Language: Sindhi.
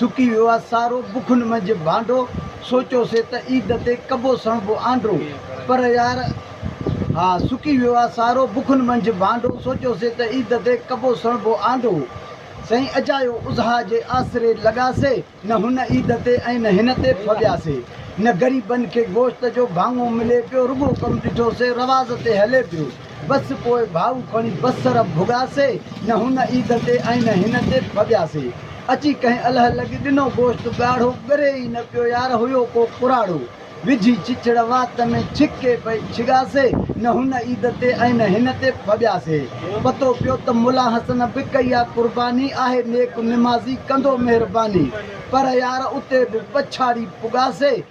سڪي ويو آ سارو بکن منجهه ڀانڊو سوچيو سي ته عيد تي ڪبو سڻبو آنڊو پر يار ها سڪي ويو آ سارو بکن منجهه ڀانڊو سوچيو سي ته عيد تي ڪبو سڻبو آنڊو سائين اجايو اضحا جي آسري لڳا سي نه هن عيد تي ۽ نه هن تي ڦٻيا سي نه غريبن کي گوشت جو ڀاڱو ملي پيو رڳو ڪم ڏٺو سي رواز تي هلي پيو. بس پوء ڀائو کڻي بصر ڀڳاسي، نه هن عيد تي ۽ نه هن تي ڀڳياسي. اچي ڪنهن الهه لڳي ڏنو گوشت ڳاڙهو، ڳري ئي نه پيو يار هيو ڪو ڪراڙو. وجهي چچڙ وات ۾ ڇڪي پئي ڇڳاسي، نه هن عيد تي ۽ نه هن تي ڀڳياسي. پتو پيو ته ملا حسن به ڪئي آ قرباني، آهي نيڪ نمازي ڪندو مهرباني. پر يار اتي به پڇاڙي پڳاسي.